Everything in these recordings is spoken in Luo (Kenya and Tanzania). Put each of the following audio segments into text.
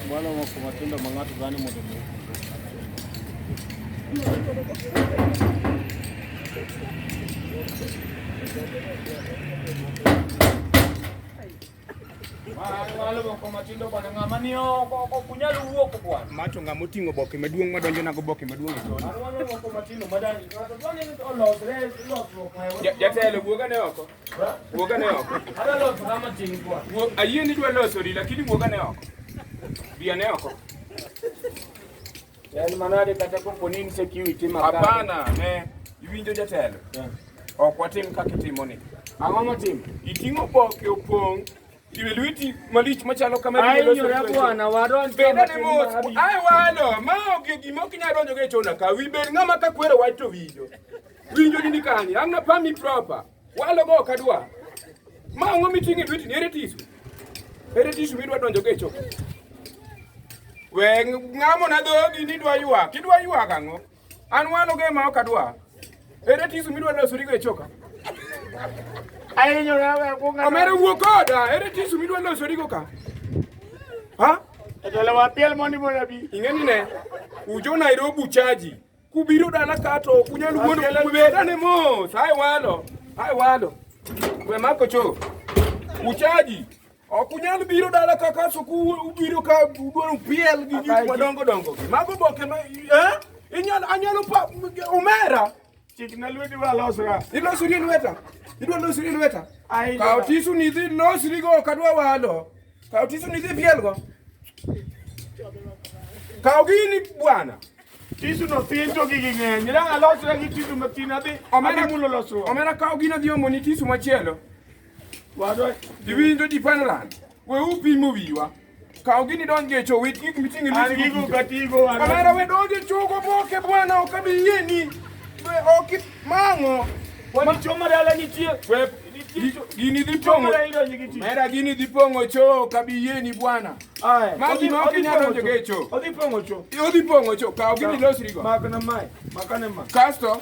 Bwana wa kumatenda mang'ato gani mondo macho ng'a moting'o boke maduong' madonjo nago boke maduong' jatelo wuogane oko Wuoga ne oko. Adwa loso kama tin kwa. Ayie ni dwa loso ri lakini wuoga ne oko. Bia ne oko. Yaani manade kata kopo ni insecurity makana. Hapana, ne iwinjo jatelo. Yeah. Ok watim kaka itimo ni. Ang'o motim? Iting'o boke opong' iwe lweti malich machalo kama ainyora bwana wadonj benda ne mos ai walo ma ok gimo kinya donjo ge chona ka wi bed ng'ama ka kwero wach to winjo Winjo ni kani, an na pami proper. Walo go kadwa. Ma ngo mitingi lweti ni ere tisu. Ere tisu midwa donjo go e choo. We ngamo na dhogi ni dwa ywa, kidwa ywa kango. An walo go ma okadwa. Ere tisu midwa donjo suri go e choka. Ayenyo na we ko ngamo. Omere wuo koda, ere tisu midwa donjo suri go ka. Ha? Etele wa piel mondi mondi abi. Ingeni ne. Ujo Nairobi chaji. Kubiro dala ka to ok unyal wuondo kubedane mos. Hai walo, hai walo. We mako cho. Uchaji. Ok unyal biro dala ka ka suku ubiro ka udwaro piel gi gik madongo dongo. Mago boke ma eh? Inyal anyalo pa omera. Chikna lweti wa losra. Ilosri lweta. Idwa losri lweta. Ai. Ka otisu ni dhi losri go kadwa walo. Kaw tisuni dhi pielgo. Kaw gini bwana. Tisu no tin to gigi ng'eny. Ira alosra gi tisu matin adhi. Omena mulo losruok. Omena kaw gino dhi omoni tisu machielo. Wadwa diwinjo dipanran. We upimo wiwa. Kaw gini donj e chowit gik miting'e ni. An gigo katigo. Omena we donj e chogo boke bwana ok abi yieni. We ok mang'o. Wani choma dala nitie. We Gini dhi pong'o mera, gini dhi pong'o choo kabiyieni bwana. Magi ma ok inyal donjo e choo. Odhi pong'o choo. Odhi pong'o choo. Kaw gini losri go. Makna mai. Makane ma. Kasto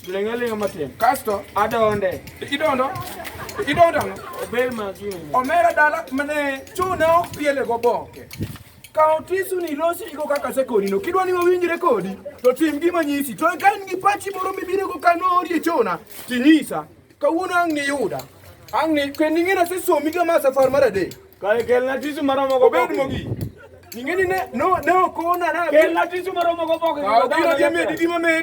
lengalenga matin. Kasto adonde. Idondo. Idondo ang'o? Obel ma gini. Omera dala mane choo ne ok piele go boke. Kaw tisu ni losi iko kaka sekoni no. Kidwa ni wawinjre kodi to tim gima nyisi. To ka in gi pachi moro mibiro go kanori e chona, tinyisa. Kawuono ang' niyuda. Ang' ni kendo ing'e nasesomi kama safar mar adek. Kae kelna tisu maromo go. Obed mogi. Ing'e ni ne no ne okona na. Kelna tisu maromo go boke. Kaw gino dhi medi gima medi.